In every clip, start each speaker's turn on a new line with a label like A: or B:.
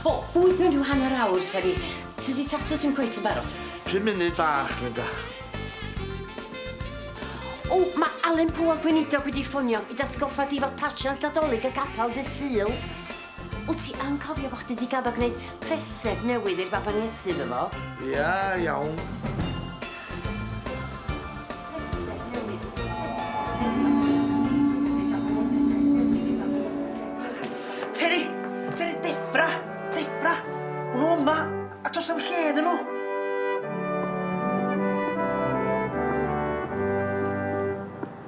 A: O, bwyd mewn rhyw hanner awr te fi. Tydi tatws ddim cweit yn barod. Pum munud bach, Linda. O, mae Alun Pugh a'r Gweinidog wedi ffonio i dy atgoffa di fod Patch yn Nadolig y capel dydd Sul. Wyt ti yn cofio bo' chdi 'di gaddo gneud preseg newydd i'r baban Iesu iddo fo? Ia, iawn. Teri! Teri, deffra! Deffra! Ma' nw yma, a do's na'm lle iddyn nw!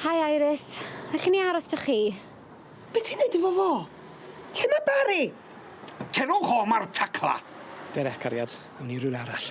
A: Hi Iris. Allwn i aros 'da chi? Be' ti'n neud efo fo? Lle ma' Barry? Cerwch o 'ma'r tacla! Derek, cariad, awn ni rywle arall.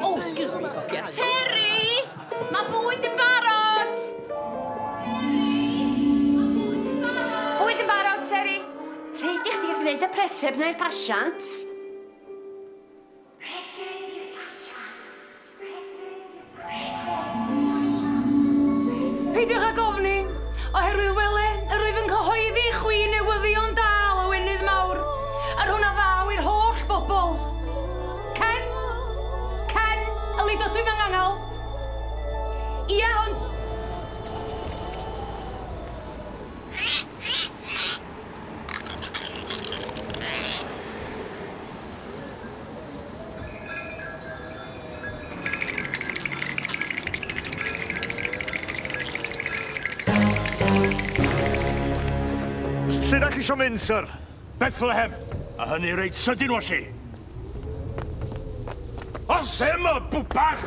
A: Oh, excuse me, hogia. Terry! Mae bwyd yn barod! Bwyd yn barod, Terry. Tyd i chdi gwneud y preseb neu'r pasiant. Preseb neu'r pasiant? Peidiwch ag ofni, oherwydd wele, yr wyf yn cyhoeddi i chwi newyddion da lawenydd mawr, yr hwn a ddaw i'r holl bobl. Ken? Ken, y leid odw i mewn angal. Ia, hwn. Lle da chi isio mynd, sir? Bethlehem! A hynny reit sydyn, Washi! Os ema, bwbach!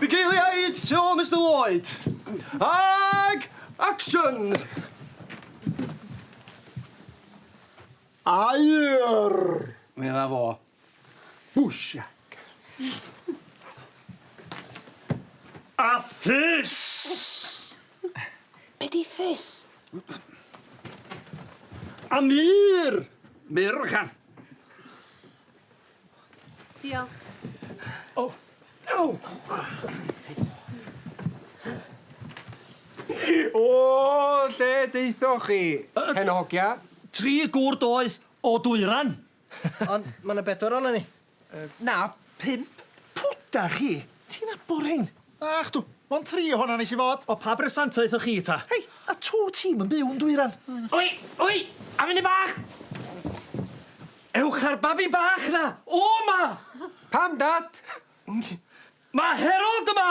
A: Bugeiliaid tu ôl Mister Lloyd. Ag action! Aur! Mae yna fo. Bwsiac. A ffys! Be di ffys? A mur! Mur, oce. Diolch. O! Ew! O! Lle deuthoch chi, hen hogia? Tri gŵr doeth o Dwyran! Ond ma' 'na bedwar onon ni. Yy na, pump. Pw 'da chi? Ti'n nabor rhein? Ach dw, mond tri ohona nes i fod. O pa bresant aethoch chi ta? Hei, a tw ti'm yn byw'n dwyran? Oi, oi, a funud bach! Ewch â'r babi bach na o ma! Pam dad? Mae Herold yma!